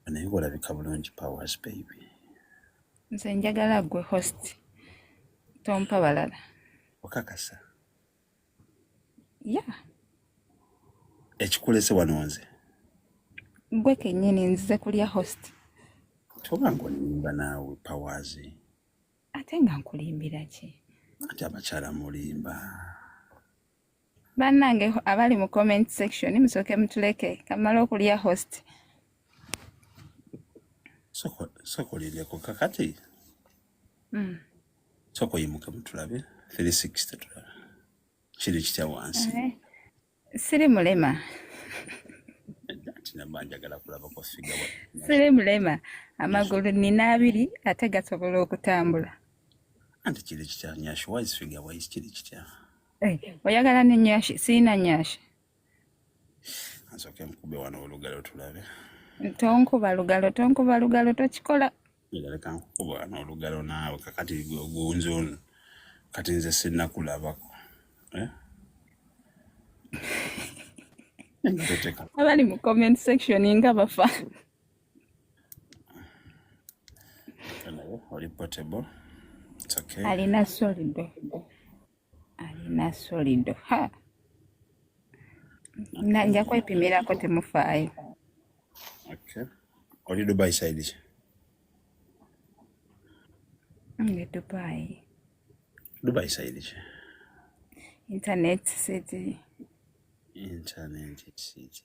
naye olabika bulungi powers baby nze njagala gwe host tompa balala okakasa ya ekikulese wano nze gwe kenyini nzize kulya host toba ngaolimba naawe powers ate nga nkulimbira ki ati abakyala mulimba Bannange abali mu comment section musooke mutuleke kamala okulya host sokolindeko kakati hmm. soko yimuke mutulabe 360 tulabe kiri kitya wansi eh, siri mulema siri mulema amagulu nina abiri ate gasobola okutambula anti kiri kitya nyashuwaizifigawaisi kiri kitya Hey, eh, oyagala ne nyashi siina nyashi nsoke nkube wano olugalo tulabe tonkuba lugalo tonkuba lugalo tokikola leka nkukuba wano olugalo naawe kakati gunzon kati nze sinakulabako eh? abali mu comment section nga bafa oli potable alina solido alina solido ha nja kwepimirako temufaayo okay. oli dubai side ki nge dubai dubai side ki internet city internet city